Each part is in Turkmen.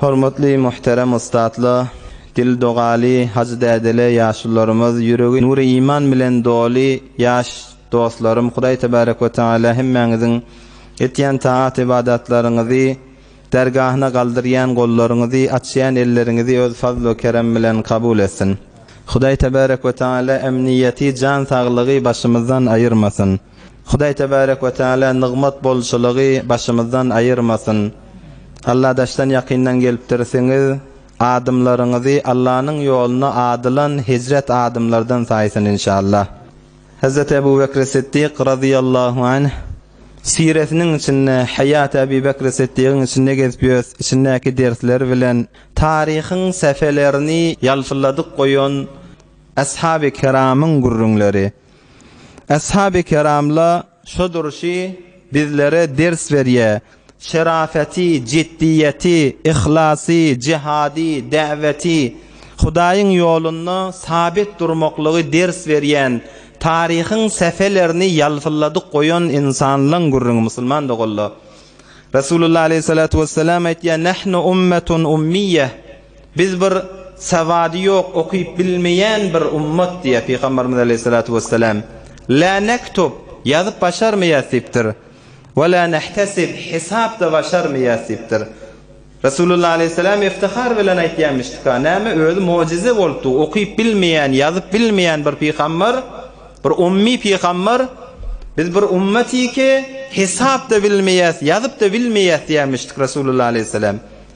Hormatly muhterem ussatla Dil dogaly Hajy dädele ýaşulylarymyz ýüregi nury iman bilen doly ýaş dostlarym Hudaý tebarek we teala hemmäňiziň etýän taat ybadatlaryňyzy dergahyna galdyrýan gollaryňyzy açýan elleriňizi öz fazl we kerem bilen kabul etsin Hudaý tebarek we teala emniýeti jan saglygy başymyzdan aýyrmasyn Hudaý tebarek we teala nygmat bolçulygy başymyzdan aýyrmasyn. Alla daşdan ýakyndan gelipdirsiňiz, adymlaryňyzy Allanyň ýoluna adylan hejret adymlardan saýsyn inşallah. Hezreti Ebu Bekri Siddik razyýallahu anh siresiniň içinde Haýaty Ebi Bekri Siddigiň içinde gezip ýös içindäki dersler bilen taryhyň sähfelerini ýalpylladyp goýan Ashaby Kiramyň gürrüňleri. Ashaby Kiramla şo durşy bizlere ders berýä. Şerafeti, jiddiýeti, yhlasy, jihady, däweti, Hudaýyň ýolunda sabit durmaklygy ders berýän, taryhyň sähelerini ýalpylladyp goýan ynsanlaň gürrüňi musulman doganlar. Resulullah aleýhissalatu wessalam aýtýar, Nahnu ummetun ummiýe. Biz bir sawady ýok, okyp bilmeýän bir ummat diýýär Pygamberimiz aleýhissalatu wessalam. La nektub, ýazyp başarmaýas diýipdir. We la nehtasib, hesap-da başarmaýas diýipdir. Resulullah aleýhissalam iftihar bilen aýtýamyşdyka, näme özi mojyza bolupdy, okyp bilmeýän, ýazyp bilmeýän bir pygamber, bir ummy pygamber, biz bir ummatyky, hesap-da bilmeýäs, ýazyp-da bilmeýäs diýýämişdik Resulullah aleýhissalam.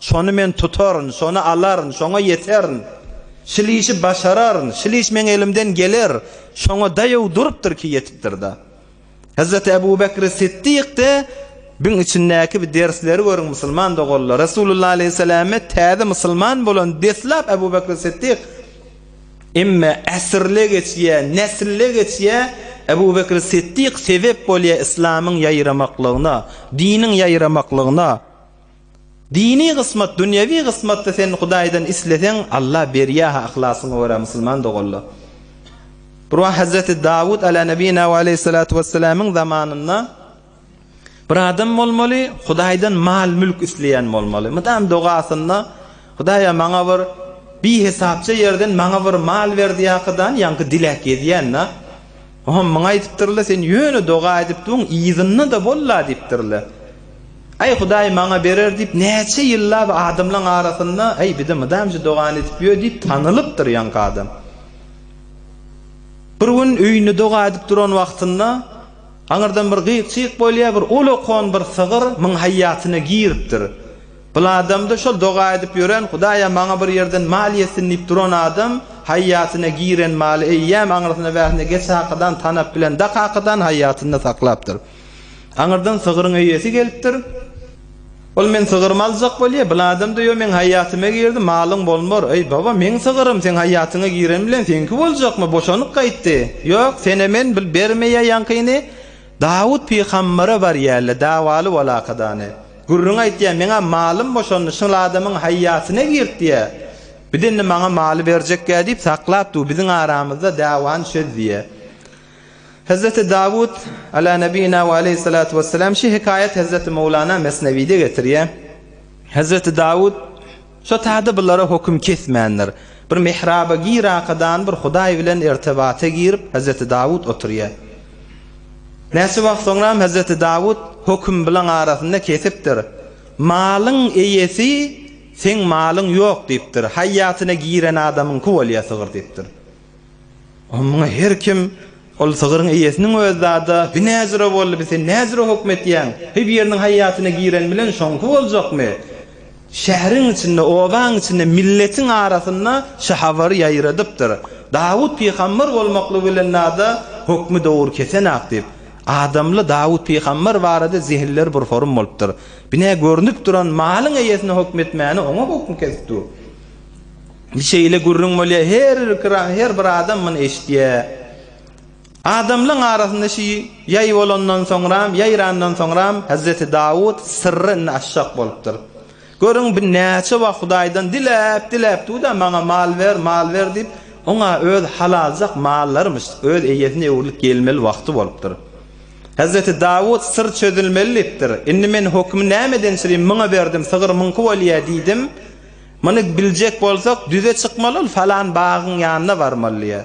Şony men tutaryn, şony alaryn, şoňa ýeterin. Şil işi başararyn, şil iş meň elimden geler, şoňa daýaw durupdyr ki ýetipdir-da. Hezreti Ebu Bekri Siddik de biň içindäki bi dersleri görüň musulman doganlar. Resulullah aleýhissalame täze musulman bolan deslap Ebu Bekri Siddik Emme äsrle geçýä, neslle geçýä, Ebu Bekri Siddik sebep bolýa islamyň ýaýramaklygyna, diniň ýaýramaklygyna. Dini gysmat dünýewi gysmatda sen Hudaýdan isleseň Allah berýä ha yhlasyňa görä musulman dogalla. Bir wagt Hazreti Dawud ala nebina we aleyhissalatu wesselamyň zamanynda bir adam bolmaly Hudaýdan mal mülk isleýän bolmaly. Mydam dogasynda Hudaýa maňa bir bihesapça ýerden maňa bir mal ber diýakydan ýaňky dilek gezýän da. Oňam muňa aýdypdyrlar, Sen ýöne doga edip dur, yzynda-da bol-la diýipdirler. Aý, Hudaý maňa berer diýip, näçe ýyllap adamlaryň arasynda, Aý, bize mydam şu dogany edip ýör diýip, tanylypdyr ýaňky adam. Bir gün öýünde doga edip duran wagtynda, aňyrdan bir gyk-çyk bolýar, bir uly okan bir sygyr muň haýýatyna giripdir. Bul adamda şol doga edip ýören hudaýa maňa bir ýerden mal ýetsin diýip duran adam haýýatyna giren maly eýýäm aňyrsyna bärsine geç hakydan tanap bilen dak hakydan haýýatynda saklapdyr. Aňyrdan sygyryň eýesi gelipdir. Ol men sygyrymy aljak bolýa, bul adamda ýo meň haýýatyma girdi, malyň bolmar. Eý baba, meň sygyrym seň haýýatyňa giren bilen seňki boljakmy, boşanyp gaýtdy. Ýok, senä men bil bermeýä ýaňkyny Dawut pygambere bar ýälle dawaly bol hakydany. Gürrüň aýtýar, Meňä malym boşandy, şol adamyň haýýatyna girtýär. Biz indi maňa maly berjekgä diýip saklap dur, biziň aramyzda dawany çöz diýýär. Hezreti Dawut, Ala nebiyina we aleýhissalatu wessalam, şu hekaýat Hezreti Mowlana Mesnewide getirýär. Hezreti Dawut. Şo täze bulara höküm kesmändir. Bir mihraba gir arkadan bir Hudaý bilen irtibata girip Hezreti Dawut oturýar. Näçe wagt soňram Hezreti Dawut höküm bilaň arasynda kesipdir. Malyň eýesi seň malyň ýok diýipdir. Haýýatyna giren adamyňky bolýar sygyr diýipdir. Oňa muňa her kim, Ol sygyryň eýesiniň özi zada, bi näzüre boldy, bi sen näzüre hökm etýäň? Heý, biriniň haýýatyna giren bilen şoňky boljakmy? Şäheriň içinde, obaň içinde, milletiň arasynda şu habary ýaýradypdyr. Dawut pygamber bolmaklygy bilen zada hökmi dogry kesenak diýip, adamly Dawut pygamber barada zehinleri bir horym bolupdyr. Bi nä görnüp duran malyň eýesine hökm etmäni oňa hökm kesip dur. Şeýle gürrüň bolýar, her bir kira, her bir adam muny eşitýär. Adamlaryň arasynda şu ýaý bolandan soňram, ýaýrandan soňram Hezreti Dawut syrry indi açjak bolupdyr. Görüň, bir näçe wagt Hudaýdan diläp, diläp dur-da, maňa mal ber, mal ber diýip, oňa öz halaljak mallarymyş, öz eýesine öwrülip gelmeli wagty bolupdyr. Hezreti Dawut syr çözülmeli diýipdir. Indi men hökümi näme edençirin, muňa berdim, sygyr muňky bolýar diýdim. Muny biljek bolsak, düze çykmaly ol falan bagyň ýanyna barmaly diýýär.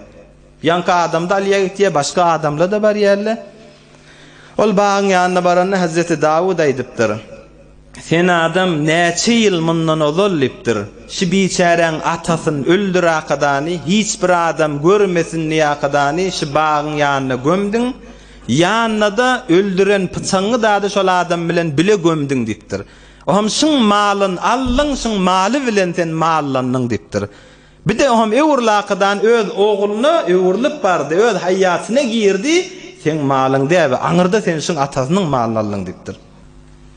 Ýaňky adamda Alyýa gitýär, başga adamla-da barýarlar. Ol bagyň ýanyna baranda Hezreti Dawud aýdypdyr. Sen adam näçe ýyl mundan ozal diýipdir, Şu biçäräň atasyn öldür akadany, hiç bir adam görmesin diýip akadany şu bagyň ýanyna gömdüň, ýanyna-da öldüren pyçaňy dady şol adam bilen bile gömdüň diýipdir. Oam şyň malyn aldyň, şyň maly bilen sen mallandyň diýipdir. Bir-de oam öwür lakydan öz ogluna öwrülip bardy, öz haýýatyna girdi, Seň malyň däbi, aňyrda sen şyň atasynyň malyny aldyň diýipdir.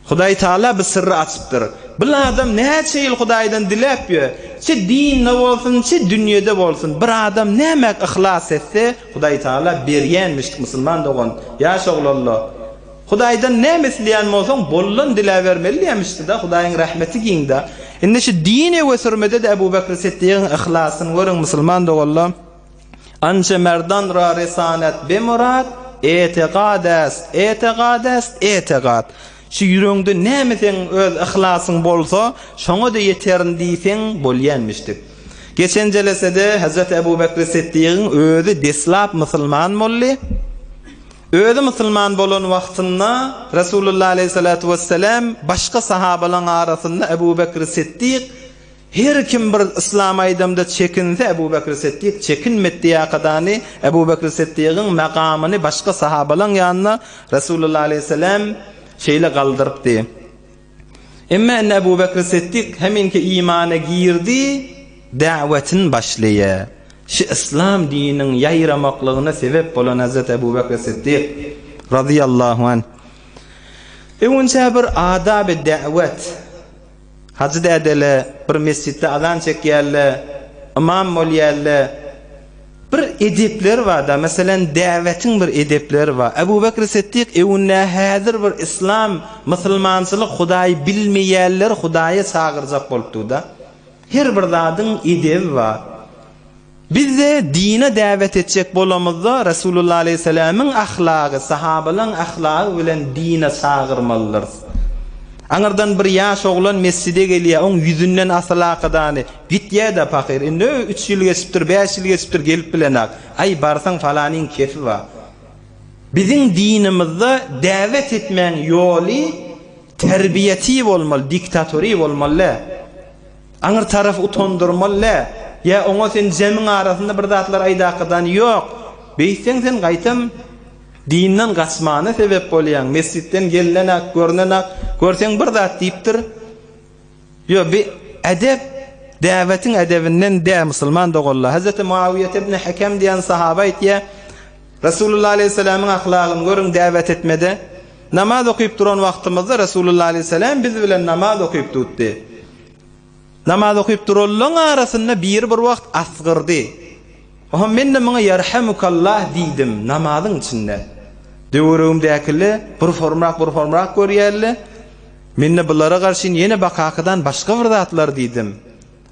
Hudaý Taala bir syrry açypdyr. Bir adam näçe ýyl Hudaýdan diläp ýör, çi dinde bolsun, çi dünýede bolsun, bir adam nämäk yhlas etse, Hudaý Taala berýänmiş, musulman dogan, ýaş oglanlar, Hudaýdan näme isleýän bolsaň, bollan diläbermeli diýmişdi-de, Hudaýyň rahmeti giň-dä. Indi şu dini ösürmede-de Ebu Bekri Siddigiň yhlasyny görüň, musulman doganlar! Anje merdan ra resanet be murad, etegad est, etegad est, etegad! Şu ýüregiňde näme seň öz yhlasyň bolsa, şoňa-da ýeterin diýseň bolýanmişdi. Geçen jelesede Hezreti Ebu Bekri Siddigiň özi deslap musulman boldy. Özi musulman bolan wagtynda Resulullah aleýhissalatu wesselam başga sahabalaň arasynda Ebu Bekri Siddik, Her kim bir yslam aýdamda çekinse Ebu Bekri Siddik çekinmet diýäkadany Ebu Bekri Siddigiň makamyny başga sahabalaň ýanynda Resulullah aleýhissalam şeýle galdyrypdy. Emma indi Ebu Bekri Siddik heminki imana girdi, da'wetini başlaýa. Şu yslam dininiň ýaýramaklygyna sebep bolan Hezreti Ebu Bekri Siddik, razyýallahu anh, öwünçä bir adaby da'wet, Hajy dädeler bir mesjitde azan çekýärler, ymam bolýarlar, Bir edepleri bar-da, meselem, däwetiň bir edepleri bar. Ebu Bekri Siddik öwünýär, Häzir bir yslam, musulmançylyk Hudaýy bilmeýänleri Hudaýa çagyrjak bolupdyr-da. Her bir zadyň edebi bar. Biz-de dine däwet etjek bolamyzda, Resulullah aleýhissalamyň ahlagy, sahabalaryň ahlagy bilen dine çagyrmalydyrys. Aňyrdan bir ýaş oglan mesjide gelýär, oň ýüzünden asylakydany, Gitýä-dä pahyr, indi öý üç ýyl geçipdir, bäş ýyl geçipdir, gelip bilenok. Aý, barsaň falanyň kefi bar. Biziň dinimizde däwet etmäň ýoly terbiýetiý bolmaly, diktatoryý bolmaly-dä. Aňyr tarapy utandyrmaly-dä. Ýa oňa sen jemiň arasynda bir zatlar aýdakydan ýok. Beýtseň sen gaýtam dinden gaçmana sebep bolýaň. Mesjitden gelnenak, görnenak, görseň bir zat diýipdir. Ýo, bi edep däbetiň edebinden dä, musulman doganlar. Hazreti Muawiýa ibn Hekem diýen sahaba aýtýar, Resulullah aleýhissalamyň ahlagyny görüň däbet etmede. Namaz okyp duran wagtymyzda Resulullah aleýhissalam biz bilen namaz okyp dutdy. Namaz okyp duranlaň arasynda biri bir wagt asgyrdy. Oho, men-de muňa Ýarhamukallah diýdim, namazyň içinde. Töweregimdäkile burformrak-burformrak görýärle. Men-de bulara garşyn ýene bakakadan başga bir zatlar diýdim.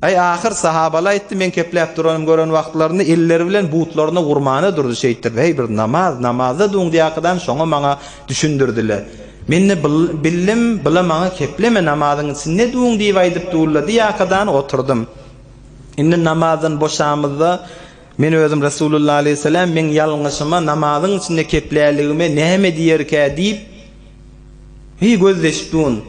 Aý, ahyr, sahabaly aýtdy, meň kepläp duranym gören wagtlarynda elleri bilen butlaryna urmana durdy, şeýtdirdi. Heý, bir namaz, namazda duňdýakadan şoňa maňa düşündirdiler. Men-de bildim, bula maňa kepleme, namazyň içinde duň diýip aýdyp dullady ýakadan oturdym. Indi namazdan boşamyzda, men özüm Resulullah aleyhisselam meň ýalňyşyma, namazyň içinde kepläligime näme diýerkä diýip, heý gözleşip durun.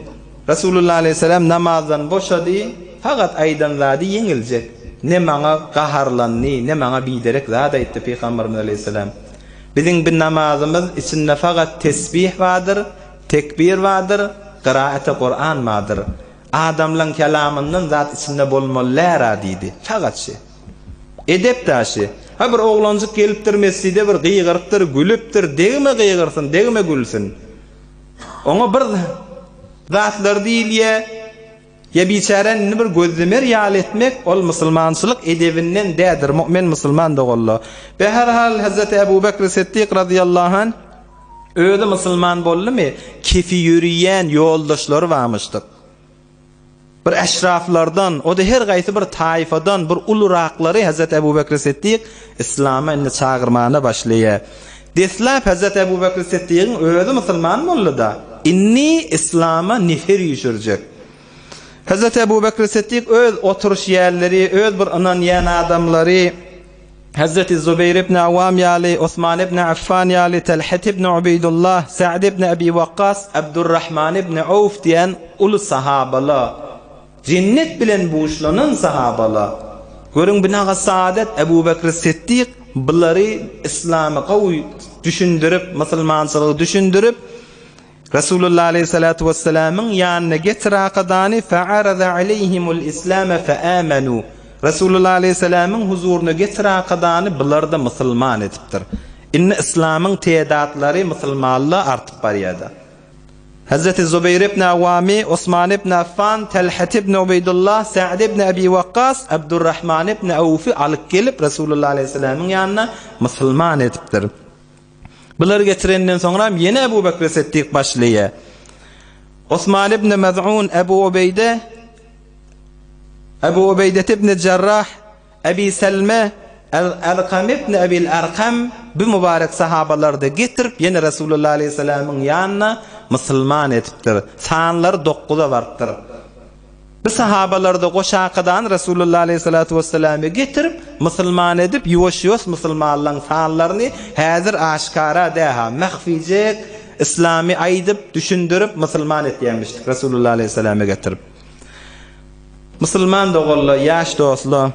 Resulullah aleyhisselam namazdan boşady, fakat aýdan zady ýeňiljek. Ne maňa gaharlandy, ne maňa biderek zat aýtdy Pygamberimiz aleyhisselam. Biziň bi namazymyz içinde fakat tesbih bardyr, tekbir bardyr, gyraate Kur'an bardyr. Adamlaň kelamyndan zat içinde bolmallära diýdi. Sagaçy. Edep daşy. Ha bir oglanjyk gelipdir mesjide bir gygyrypdyr, gülüpdir, degme gygyrsyn, degme gülsün. Oňa bir zatlar diýilýä. Ýa biçäräni indi bir gözlemer ýaly etmek, ol musulmançylyk edebinden dädir, mu'min musulman doganlar. Be her hal Hazreti Abu Bakr Siddik razyýallahu anh, Özi musulman boldumy, kefi ýöriýän ýoldaşlary barmyşdyk. Bir eşraflardan, o-da her gaýsy bir taýfadan bir ulurakylary Hezret Ebu Bekri Siddik yslama indi çagyrmana başlaýa. Deslap Hezret Ebu Bekri Siddigiň özi musulman boldy-da, indi yslama nefer üýşürjek. Hezret Ebu Bekri Siddik öz oturyş ýerleri, öz bir ynanýan adamlary, Hezreti Zubeýr ibn Awwam ýaly, Osman ibn Affan ýaly, Telhet ibn Ubeýdullah, Sa'd ibn Ebi Wakkas, Abdurrahman ibn Awf diýen uly sahabalar, jennet bilen buşlanan sahabalar. Görüň, Binaga Saadet, Ebu Bekr Siddik bulary yslamy gowy düşündirip, musulmançylygy düşündirip, Resulullah aleyhissalatu wessalamyň ýanyna getir akadany fa'arada aleyhimul islame fa'amanu. Resulullah aleyhissalamyň huzuryna getir akadany bularda musulman edipdir. Indi islamyň tedatlary musulmanla artyp barýada. Hazreti Zubeýr ibn Awwami, Osman ibn Affan, Talhat ibn Ubeýdullah, Sa'd ibn Abi Wakkas, Abdurrahman ibn Awfy alyp gelip Resulullah aleyhissalamyň ýanyna musulman edipdir. Bulary getirenden soňram ýene Ebu Bekri Setdik başlaýa. Osman ibn Mez'un, Ebu Ubeýde, Ebu Ubeýdet ibn Jarrah, Ebi Selme, Al-Alkam ibn Ebil Arkam bu mubarek sahabalary-da getirip ýene Resulullah aleýhissalamyň ýanyna musulman edipdir. Sanlary dokguza barypdyr. Bu sahabalarda goşakydan Resulullah aleýhissalatu wesselamy getirip, musulman edip, ýuwaş-ýuwas musulmanlaň sanlaryny, häzir aşkara däha, mahfijek yslamy aýdyp, düşündirip, musulman etýämişdik Resulullah aleýhissalamy getirip. Musulman doganlar, ýaş dostlar,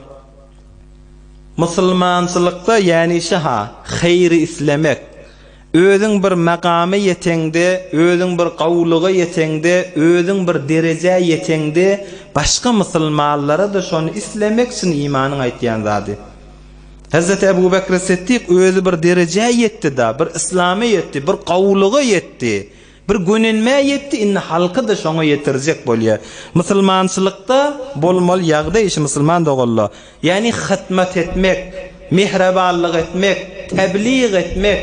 musulmançylykda ýänişe-ha, haýry islemek, Özüň bir makama ýeteňde, özüň bir gowulyga ýeteňde, özüň bir derejä ýeteňde, başga musulmanlara-da şony islemek çyn imanyň aýtýan zady. Hezreti Ebu Bekri Siddik özi bir derejä ýetdi-da, bir islama ýetdi, bir gowulyga ýetdi. Bir gönenmä ýetdi indi halkyda şoňa ýetirjek bolýa. Musulmançylykda bolmaly ýagdaý işi musulman doganla. Ýani hytmat etmek, mehrebanlyk etmek, tebliğ etmek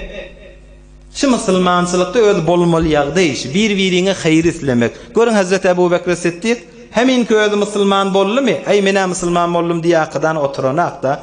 şu musulmançylykda özi bolmaly ýagdaý işi. Bir biriňe haýyr islemek. Görüň Hazreti Abu Bekri Siddik heminki özi musulman boldymy, aý menä musulman boldum diýakydan oturanakda.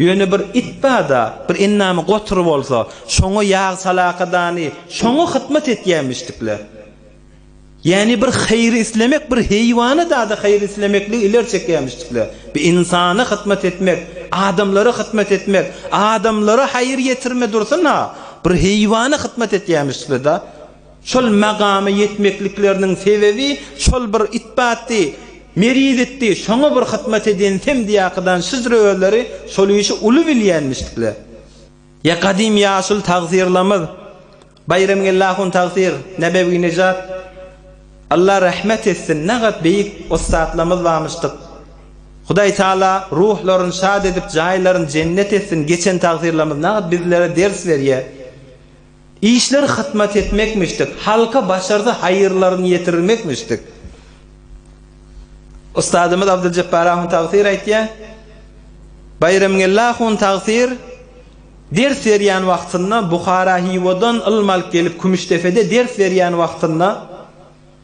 Ýöne bir it bar-da, bir endamy gotur bolsa, şoňa ýag salakadany, şoňa hytmat etýämişdikler. Ýäni bir haýry islemek, bir heýwana zada haýry islemekligi ileri çekýämişdikler. Bir ynsana hytmat etmek, adamlara hytmat etmek, adamlara haýyr ýetirme dursun-a, bir heýwana hytmat etýämişdikler-da. Şol magama ýetmeklikleriniň sebebi şol bir itbatdy, merizitdi, şoňa bir hyzmat edýän semdiýakydan şyzr özleri şol işi uly bilýänmişdikler. Ýa gadym ýaşuly tagsyrlamyz Baýramgeldi ahun tagsyr, Nebewi Nejat, Alla rahmet etsin, nagat beýik ussatlamyz barmyşdyk. Hudaý taala ruhlaryny şat edip, jaýlaryny jennet etsin, geçen tagsyrlamyz nagat bizlere ders berýär. Işler hyzmat etmekmişdik, halka başarsa haýyrlaryny ýetirirmekmişdik. Ustazymyz Abdyljepbar ahun tagsyr aýtýar, Baýramgeldi ahun tagsyr ders berýän wagtynda Buhara-Hywadan ylym alyp gelip Kümüşdepede ders berýän wagtynda,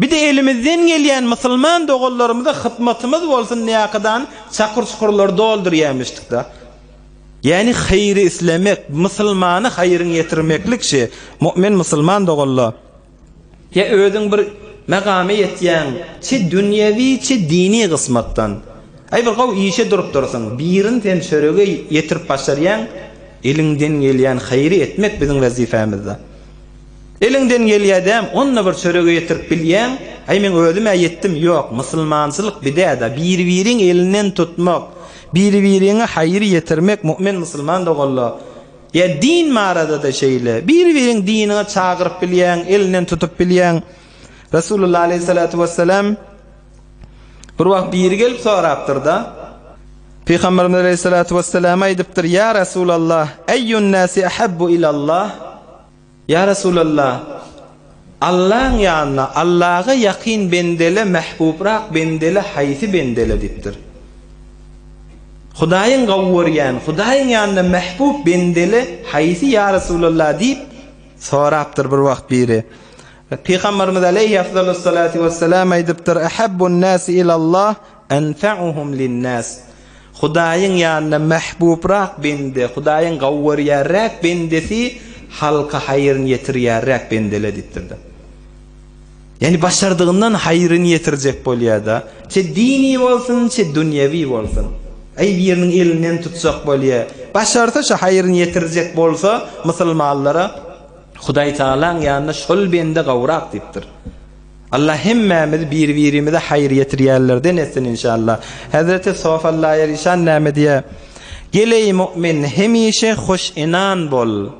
Bide elimizden gelýän musulman doganlarymyza hytmatymyz bolsun diýäkydany çakur-çukurlary doldurýamişdikda. Ýäni haýry islemek, musulmana haýryň ýetirmeklik şi, mu'min musulman doganla. Ýa özüň bir megama ýetýäň, çi dünýewi, çi dini gysmatdan. Aý bir gowy işe durupdyrsyň, birin sen çörege ýetirip başarýaň, eliňden gelýän haýry etmek biziň wezipamizda. Eliňden gelýädäm onda bir çörege ýetirip bilýäň, aý meň özüm-ä ýetdim ýok, musulmançylyk bidäda, biri-biriň elinden tutmak, biri-biriňe haýyr ýetirmek mu'min musulman doganlar, ýa din baradada şeýle, biri-biriň diniňe çagyryp bilýäň, elinden tutup bilýäň, Resulullah aleýhissalatu wessalam bir wagt biri gelip sorapdyrda, Pygamberimiz aleýhissalatu wessalam aýdypdyr, ýa Resulallah, Eýýun nasi ahabbu ilallah? Ýa Resulalla! Allaň ýanyna, Allaga ýakyn bendele mähbubrak bendele haýsy bendele? diýipdir. Hudaýyň gowy görýän, Hudaýyň ýanyna mähbub bendele haýsy, ýa Resulalla? diýip sorapdyr bir wagt biri. Pygamberimiz aleýhi afzalus salatu wessalam aýdypdyr, Ahabbun nasi ilallah, Enfe'uhum linnas, Hudaýyň ýanyna mähbubrak bende, Hudaýyň gawy görýärräk bendesi halka haýryny ýetirýärräk bendele diýipdirler. Ýagny başardygyndan haýryny ýetirjek bolýada, çe dini bolsun, çe dünýewi bolsun. Aý biriniň elinden tutjak bolýa, başarsa şo haýryny ýetirjek bolsa musulmanlara Hudaýtagalaň ýanyna şol bende gawrak diýipdir. Allah hemmämizi biri birimize haýyr ýetirýänlerden etsin inşallah. Hezreti Sofallaýerişan näme diýýär? Gel eý mu'min hemişe hoş inan bol.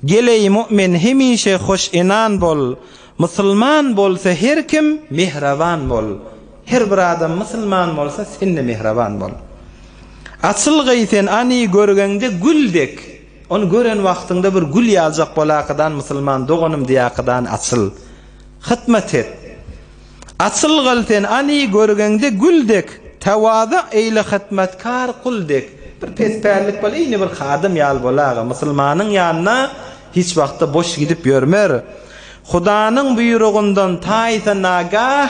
Gel eý mu'min hemişe hoş inan bol. Musulman bolsa her kim mehraban bol. Her bir adam musulman bolsa sende mehraban bol. Açylgy sen any görgeňde gül dek. Ony gören wagtyňda bir gül ýaljak bolakydan musulman doganym diýakydan açyl. Hytmat et. Açyl gyl sen any görgeňde gül dek, tawaza eýle hytmatkar kul dek. Bir pespällik bol eýni bir hadym ýaly bolaga. Musulmanyň ýanyna hiç wagtda boş gidip ýörmer. Hudanyň buýrugyndan taýsa nagah.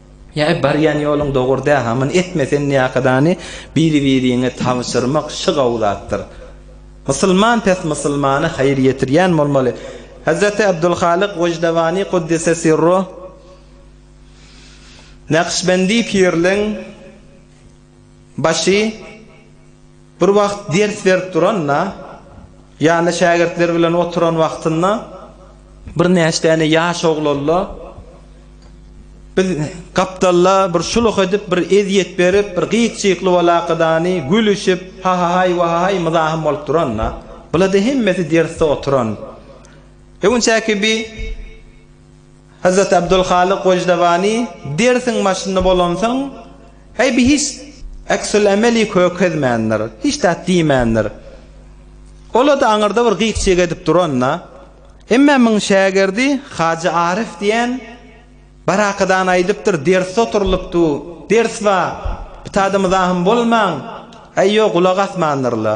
Ýa-a barýan ýoluň dogry däl, hamyny etme, sen niýakadany biri-biriňe tabşyrmak şy gowy zatdyr. Musulman pes musulmana haýyr ýetirýän bolmaly. Hazreti Abdulhalyk Wojdawaní Kuddise Sirruh Nakşbendi pirliň başy. Bir wagt ders berip duranda, ýanynda şägirtleri bilen oturan wagtynda birnäçe däne ýaş oglanla biz gapdalda bir şuluh edip, bir ezýet berip, bir gyk-çykly walakadany, gülüşip, hahahaý, wahahaý myzahym bolup duranda, bulada hemmesi dersde oturan. Öňüçäki bi. Hazrat Abdulhalyk Wojdawaní dersiň başynda bolansoň, Eýbi hiç äksulemeli kökezmändir, hiç zat diýmändir. Ol-da aňyrda bir gyk-çyk edip duran-da. Emme muň şägirdi Hajy Aryf diýen barakadan aýdypdyr, dersde oturylypdy, ders bar, ptada-myzahym bolmaň, Eýo gulak asmandyr-la.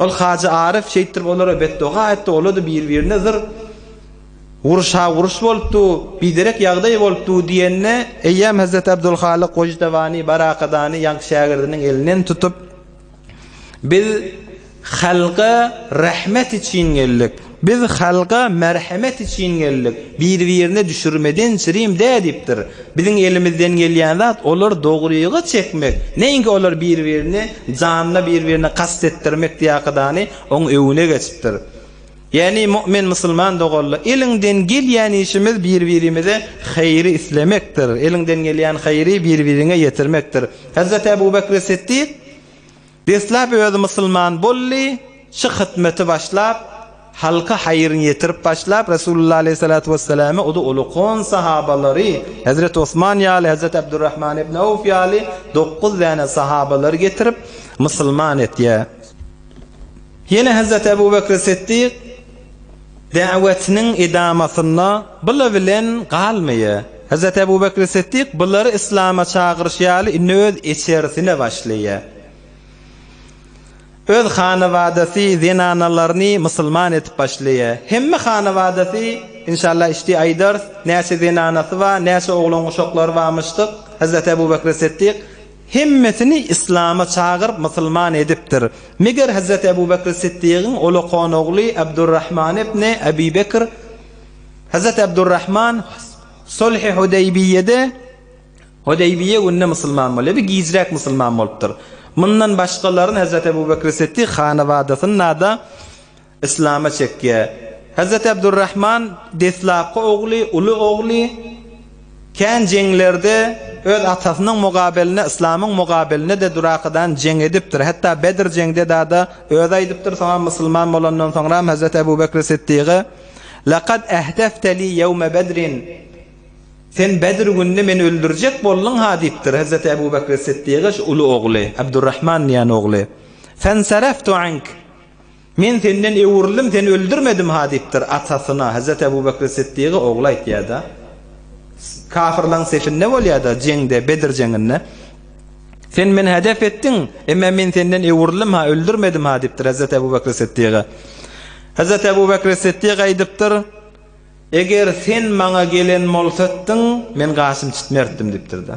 Ol Hajy Aryf şeýtdirip olara betdoga etdi, olar-da bir-birine zyr, Uruşa-uruş bolup dur, biderek ýagdaý bolup dur diýende, eýýäm Hezreti Abdulhalyk Gojutabany, Barakadany ýaňky şägirdiniň elinden tutup, Biz halka rahmet üçin geldik. Biz halga merhemet için geldik, bir-birine düşürmeden çirim dä diýipdir. Biziň elimizden gelýän zat olary dogryga çekmek, neýinki olar bir-birini janyna bir-birine kast etdirmek diýakydany oň öwüne geçipdir. Ýagny mu'min musulman doganlar eliňden gelýän işimiz bir-birimize haýry islemekdir, eliňden gelýän haýry bir-biriňe ýetirmekdir. Hazrat Abu Bakr Siddik. Deslap özi musulman boldy, şy hytmeti başlap, halka haýyryn ýetirip başlap, Resulullah aleýhissalatu wessalame udy ulukon sahabalary, Hezreti Osman ýaly, Hezreti Abdurrahman ibn Awf ýaly dokuz däne sahabalary getirip musulman etýär. Ýene Hezreti Ebu Bekri Siddik, Dawetiniň edamasynda bula bilen galmaýa. Hazreti Ebu Bekri Siddik bulary Islama çagyryş ýaly indi öz eçerisine başlaýa. Öz hanabadasy zenanalaryny musulman edip başlaýa. Hemme hanabadasy, inşallah işdi aýdars, näçe zenanasy bar, näçe oglan-uşaklary barmyşdyk, Hazreti Ebu Bekri Siddik Hemmesini yslama çagyryp musulman edipdir. Meger Hazreti Ebu Bekri Siddigiň ulakan ogly Abdurrahman ibni Abi Bekr, Hazreti Abdurrahman, Sulhi Hudeýbiýede, Hudeýbiýe günde musulman bolýar we gijräk musulman bolupdyr. Mundan başgalaryny Hazreti Ebu Bekri Siddig hanabadasynda-da, Yslama çekýär. Hazreti Abdurrahman deslapky ogly, uly ogly kän jeňlerde öz atasynyň mugabelinde, yslamyň mugabelinde-de durakadan jeň edipdir. Hatda Bedr jeňde dada özi aýdypdyr, soňam musulman bolandan soňram Hazreti Abu Bekri Siddigy, Lekad ehdefte li ýewme Bedrin, Sen Bedr gününi meni öldürjek bolduň-ha diýipdir. Hazreti Abu Bekri Siddigy şu uly ogly, Abdurrahman diýen ogly, Fensaraftu ank, Men senden öwrüldim, seni öldürmedim-ha diýipdir atasyna, Hezreti Ebu Bekri Siddigy ogly aýtýar-da. Kafirlaň sefinde bolýar-da, jeňde, Bedr jeňinde. Sen meni hedef etdiň, emmä men senden öwrüldim-ha, öldürmedim-ha diýipdir Hezreti Ebu Bekri Siddiga. Hezreti Ebu Bekri Siddig aýdypdyr, Eger sen maňa gelen bolsatdyň, men gaşym çitmertdim diýipdir-de.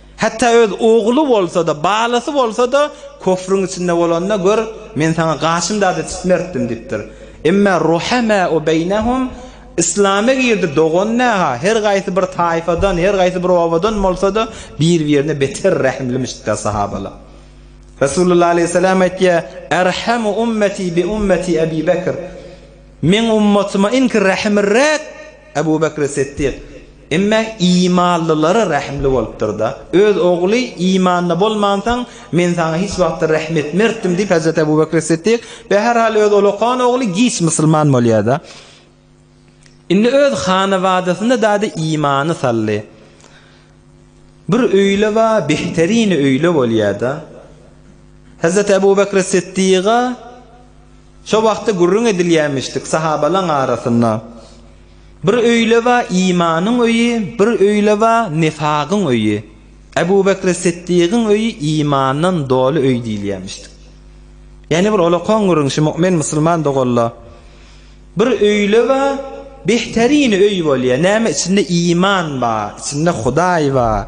Hatda öz ogly bolsa-da, balasy bolsa-da köfrüň içinde bolanda, gör, men saňa gaşym-dady çitmertdim diýipdir. Emma ruhemau beýnehum, Yslama girdi dogan näha, her gaýsy bir taýfadan, her gaýsy bir obadan bolsa-da, bir-birine beter rehimlimişdikler sahabalar. Resulullah aleýhissalam aýtýar, Erhamu ummeti bi ummeti Ebi Bekr. Meň ummatyma iňki rähimliräk Ebu Bekri Siddik, emma imanlylara rähimli bolupdyr-da. Öz ogly imanda bolmansoň, men saňa hiç wagtda rähm etmertdim diýip, Hezreti Ebu Bekri Siddik, bäherhal öz olakan ogly giç musulman bolýar-da. Indi öz hanabadasyna dady imany saldy. Bir öýle ba behterini öýle bolýar-da. Hezreti Ebu Bekri Siddiga, Şo wagtda gürrüň edilýämişdik sahabalaň arasynda, Bir öýle ba imanyň öýi, bir öýle ba nifagyň öýi. Ebu Bekri Siddigiň öýi imandan doly öý diýilýämişdik. Ýene bir olakoň gürrüň şu mu'min musulman dogalla, Bir öýle ba behterine öý bolýa, näme içinde iman ba, içinde Hudaý ba.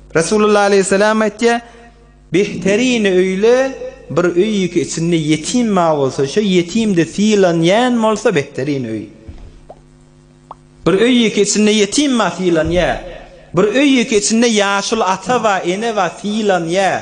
Resulullah aleýhissalam aýtýar, Behterini öýle, bir öýki içinde ýetim bar bolsa, şo ýetim-de sylanýan bolsa behterini öý. Bir öýki içinde ýetim bar sylanýar. Bir öýki içinde ýaşuly ata bar, ene bar sylanýar.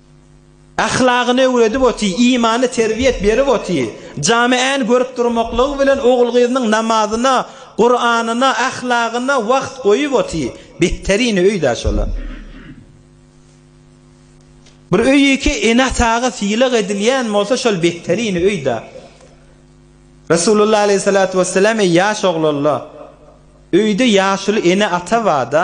Ahlagyny öwredip oty, imany terbiýet berip oty. Jamy än görüp durmaklygy bilen ogul-gyzynyň namazyna, Kuranyna, ahlagyna wagt goýup oty. Betterini öýdä şola. Bir öýki ene-ataga sylag edilýän bolsa şol betterini öýdä. Resulullah aleýhissalatu wesselam eý ýaş oglanla, öýde ýaşuly ene-ata barda,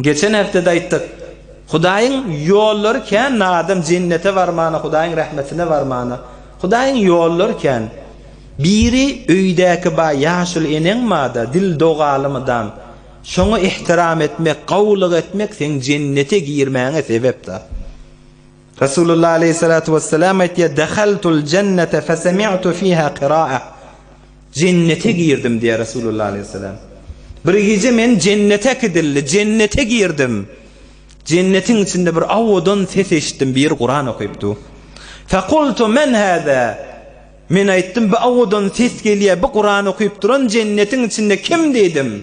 Geçen hepdede aýtdyk. Hudaýyň ýollary kän adam jennete barmana hudaýyň rahmetine barmana hudaýyň ýollary kän biri öýdäki ba ýaşuly eneň bada dil dogaly mydam şoňa ihtiram etmek gowulyk etmek seň jennete girmäňe sebep da. Resulullah aleýhissalatu wessalam aýtýar, Dehaltul jennete fesemi'tu fiha qira'a. Jennete girdim diýär Resulullah aleýhissalam. Bir gije men jennete kidildi, jennete girdim. Jennetiň içinde bir awadan ses eşitdim, bir Kuran okypdy. Fekultu men hada? Men aýtdym, bu awadan ses gelýär, bu Kuran okyp duran jennetiň içinde kim diýdim.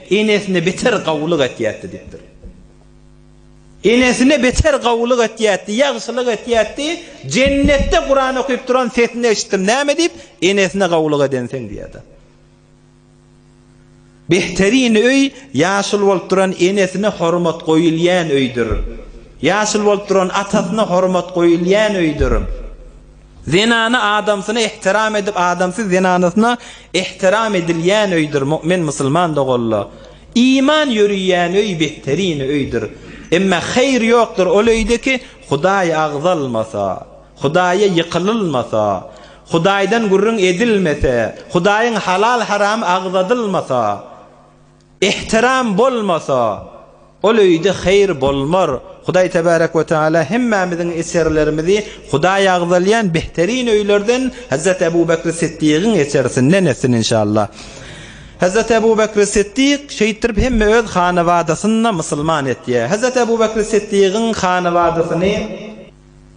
Enesine beter gawulyk etýätdi diýipdir. Enesine beter gawulyk etýätdi, ýagşylyk etýätdi, jennetde Kuran okyp duran sesini eşitdim, näme diýip, enesine gawulyk edenseň diýýärdi. Behterin öý ýaşuly bolup duran enesine hormat goýulýan öýdür. Ýaşuly bolup duran atasyna hormat goýulýan öýdür. Zenany adamsyna ehtiram edip adamsy zenanysyna ehtiram edilýän öýdür mu'min musulman doganla iman ýöriýän öý behterine öýdür emma haýyr ýokdur ol öýde ki hudaý agzalmasa hudaýa ýykylylmasa hudaýdan gürrüň edilmese hudaýyň halal haramy agzadylmasa Ehtiram bolmasa, ol öýde haýyr bolmar. Hudaý Tebarek we Teala hemmämiziň eserlerimizi Hudaý agzalýan behterin öýlerden Hezret Ebu Bekri Siddigiň esersinden etsin inşallah. Hezret Ebu Bekri Siddig şeýtdirip hemme öz hanabadasynyna musulman etýär. Hezret Ebu Bekri Siddigiň hanabadasyny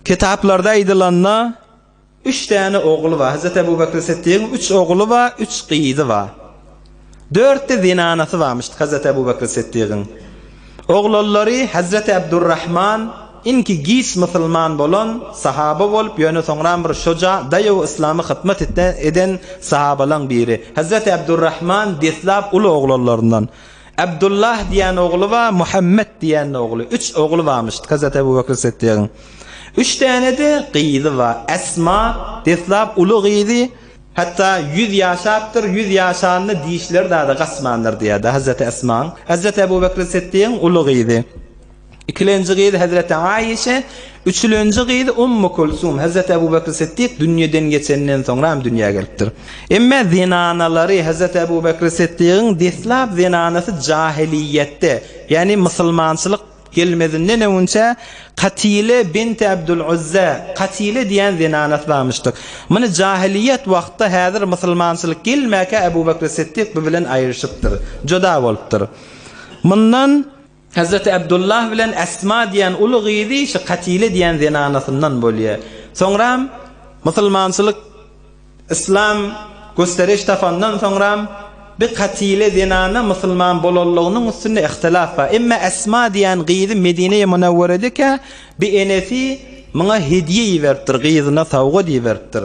kitaplarda aýdylanda Üç däne ogly bar. Hezreti Ebu Bekri Siddigiň üç ogly bar, üç gyzy bar. Dörtde zenanasy barmyşdyk Hezreti Ebu Bekri Siddigiň. Oglallary Hezreti Ebdurrahman, inki giç musulman bolan, sahaba bolup, ýöne soňram bir şuja, daýaw yslama hytmat eden sahabalaň biri. Hezreti Ebdurrahman deslap uly oglallaryndan. Abdullah diýen ogly bar, Muhammet diýen ogly. Üç ogly barmyş Hazreti Ebu Bekr Siddigiň. Üç däne-de gyzy bar. Esma, deslap uly gyzy, hatda ýüz ýaşapdyr, ýüz ýaşanda dişleri dada gaçmandyr diýýärdi Hazreti Esmaň. Hazreti Ebu Bekr Siddigiň uly gyzy. Ikilenji gyzy Hezreti Aişe, üçülenji gyzy Ummu Kulsum, Hezreti Ebu Bekr Siddik dünýeden geçenden soňra hem dünýä gelipdir. Emme zenanalary Hezreti Ebu Bekr Siddigiň deslap zenanasy jahiliýetde, ýagny musulmançylyk gelmezinden öňünçä Katile binti Abdul Uzza, Katile diýen zenanasy barmyşdyk. Muny jahiliýet wagtda häzir musulmançylyk gelmäkä Ebu Bekr Siddik bu bilen aýryşypdyr, juda bolupdyr. Mundan. Hazreti Abdullah bilen Asma diýen uly gyzy şu Katile diýen zenanasyndan bolýar. Soňram musulmançylyk Islam gösteriş tapandan soňram bi Katile zenana musulman bolanlygynyň üstünde ihtilaf bar. Emma Asma diýen gyzy Medine-i Munawwerede kä bi enesi muňa hediýe iberipdir, gyzyna sowgat iberipdir.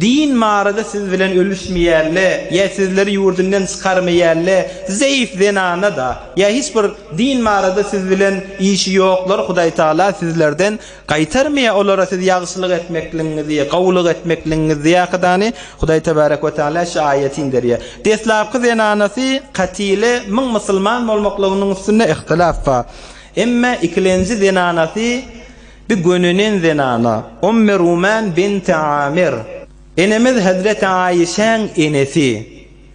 Din barada siz bilen ölüşmeýänle ýa sizleri ýurdundan çykarmaýanle zeýif zenana da ýa hiç bir din barada siz bilen işi ýoklar Hudaý Taala sizlerden gaýtarmaýar olara siz ýagşylyk etmekligiňizi gowulyk etmekligiňizi ýakydany Hudaý Tebarek we Teala şu aýaty inderýär deslapky zenanasy Katile müň musulman bolmaklygynyň üstünde ihtilaf bar emma ikilenji zenanasy Bir gönenen zenana, Ommy Ruman binti Amir, enemiz hezreti Aişäň enesi,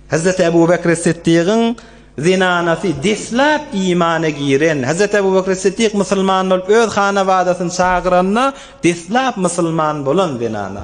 hezreti Ebu Bekri Siddigiň zenanasy, deslap imana giren, hezreti Ebu Bekri Siddig musulman bolup öz hanabadasyny çagyranda deslap musulman bolan zenana.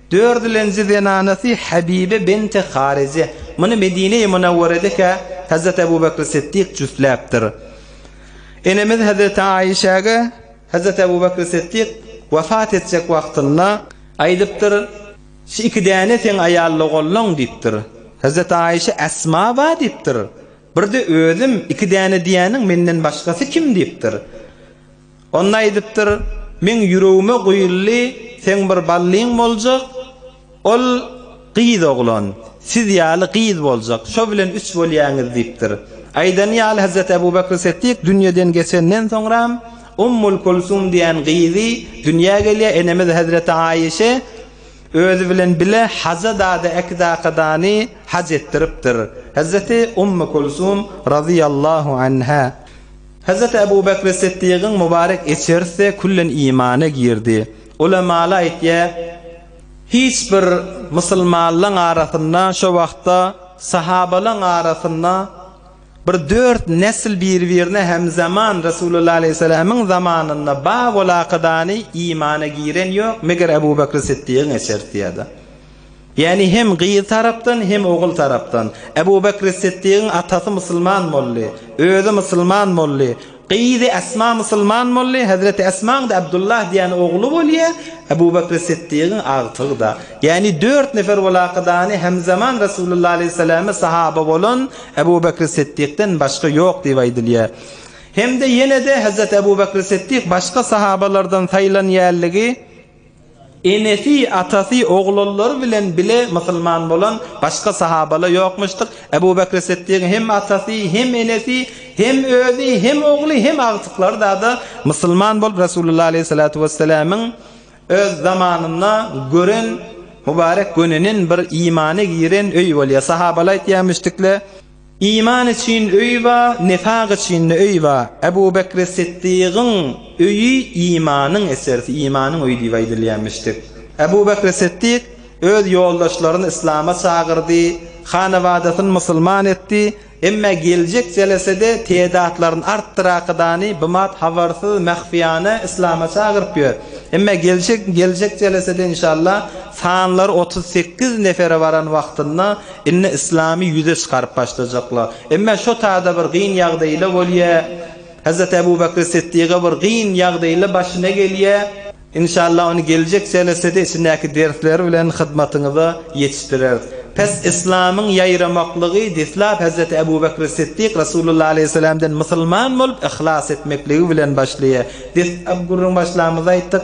Dördülenji zenanasy Habibe bint-i Harije. Muny Medine-i Munawweredekä Hezreti Ebu Bekri Siddik jüsläpdir. Enemiz Hezreti Aişäge Hezreti Ebu Bekri Siddik wefat etjek wagtynda aýdypdyr, Şu iki däne seň aýalyna gollaň diýipdir. Hezreti Aişe Esma ba diýipdir. Bir-de özüm iki däne diýýäniň menden başgasy kim diýipdir. Onda aýdypdyr, Meň ýüregime guýuldy, seň bir ballyň boljak, ol gyz oglan, siz ýaly gyz boljak, şo bilen üç bolýaňyz diýipdir. Aýdany ýaly Hezreti Ebu Bekr Setdik dünýeden geçenden soňram, Ummul Kulsum diýen gyzy dünýä gelýär, enemiz Hezreti Aişe özi bilen bile haja dady Äkidakadany haj etdiripdir. Hezreti Ummu Kulsum razyýallahu anha. Hazreti Abu Bakr-i Siddigiň mubarek eçerisi küllen imana girdi. Ulemaly aýtýar, Hiç bir musulmanlaň arasynda şo wagtda sahabalaň arasynda bir dört nesl bir-birine hemzaman Resulullah aleýhissalamyň zamanynda Babul Akydany imana giren ýok, meger Abu Bakr-i Siddigiň eçerisi ýa-da. Ýagny hem gyz tarapdan, hem ogul tarapdan. Ebu Bekri Siddigiň atasy musulman boldy, özi musulman boldy, gyzy Esma musulman boldy, Hezreti Esmaň-da Abdullah diýen ogly bolýar, Ebu Bekri Siddigiň agtygy-da. Ýagny dört nefer ol akydany hemzaman Resulullah aleýhissalama sahaba bolan Ebu Bekri Siddikden başga ýok diýip aýdylýar. Hem-de ýene-de Hezreti Ebu Bekri Siddik başga sahabalardan saýlanýanlygy, Enesi, atasy, oglallary bilen bile musulman bolan başga sahabala ýokmuşdyr. Ebu Bekri Siddigiň hem atasy, hem enesi, hem özi, hem ogly, hem agtyklary-da-da musulman bolup, Resulullah aleýhissalatu wessalamyň öz zamanynda gören mübarek gönünin bir imana giren öýi bolýar. Sahabala aýtýar, Müşdikle Iman üçin öý ba, nifak üçin-de öý ba. Ebu Bekri Siddygyň öýi imanyň eserisi, imanyň öýi diýip aýdylýamyşdyk. Ebu Bekri Siddyk öz ýoldaşlaryny yslama çagyrdy, hanawadasyny musulman etdi, emma geljek jelesede tedatlaryny artdyrakydany bimap habarsyz mähfiýana yslama çagyryp ýör. Emma geljek geljek jelesede inşallah sanlary otuz sekiz nefere baran wagtynda Indi yslamy ýüze çykaryp başlajaklar. Emma şo tada bir gyn ýagdaýla bolýa. Hazrat Abu Bakr Siddiga bir gyn ýagdaýla başyna gelýä. Inşallah ony geljek jelesede içindäki dersleri bilen hyzmatyňyza ýetişdireris. Pes yslamyň ýaýramaklygy deslap Hazrat Abu Bakr Siddik Rasulullah Aleyhisselamdan musulman bolup yhlas etmekligi bilen başlaýa. Deslap gürrüň başlamyzy aýtdyk.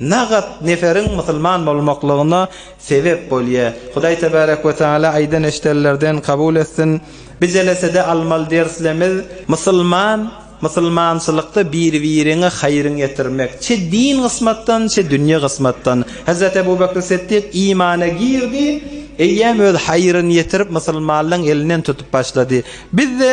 Nagat neferiň musulman bolmaklygyna sebep bolýar. Hudaý Tebarek we Teala aýdan eşidenlerden kabul etsin. Bi jelesede almaly derslerimiz musulman musulmançylykda bir-biriňe haýryň ýetirmek, çe din gysmatdan, çe dünýe gysmatdan. Hezreti Ebu Bekr Siddik imana girdi, eýýäm öz haýryn ýetirip musulmanlaň elinden tutup başlady. Bizde.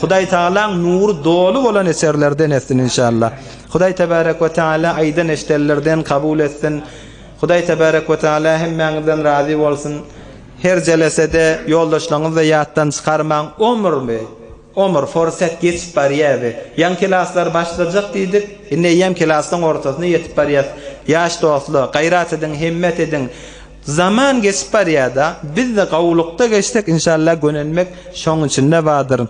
Hudaý Tagalaň nury doly bolan eserlerden etsin inşallah. Hudaý Tebarek we Teala aýdan eşdellerden kabul etsin. Hudaý Tebarek we Teala hemmäňizden razy bolsun. Her jelesede ýoldaşlaňyzda ýatdan çykarmaň. Omurmy? Omur, forset geçip barýabi. Ýaňy kelaslar başlajak diýdik. Indi eýýäm kelasyň ortasyna ýetip barýas. Ýaş dostlar, gaýrat ediň, himmet ediň. Zaman geçip barýada bizde gowulykda geçsek inşallah gönenmek şoň içinde bardyr.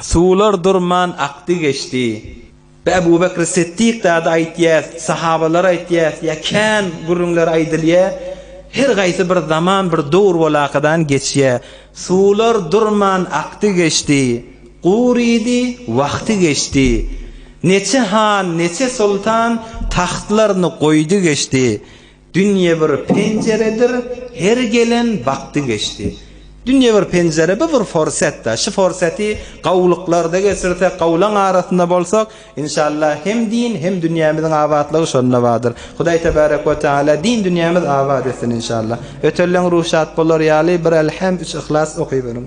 Suwlar durman akdy geçdi. Bi Ebubekri Settik zady aýtýas, sahabalary aýtýas ýa kän gürrüňler aýdylýa her gaýsy bir zaman bir dowr bolakadan geçýä. Suwlar durman akdy geçdi. Gurydy wagty geçdi. Neçe han neçe soltan tahtlaryny goýdy geçdi. Dünýe bir penjeredir, her gelen bagty geçdi. Dünýe bir penjere, bu bir forsat-da. Şu forsady gowulyklarda geçirsek, gowulaň arasynda bolsak, inşallah, hem din, hem dünýämiziň abatlygy şonda bardyr. Hudaý tebärek we teala din-dünýämizi abat etsin, inşallah. Ötelleň ruhy şat bolar ýaly, bir Elhem, üç Yhlas okyberiň.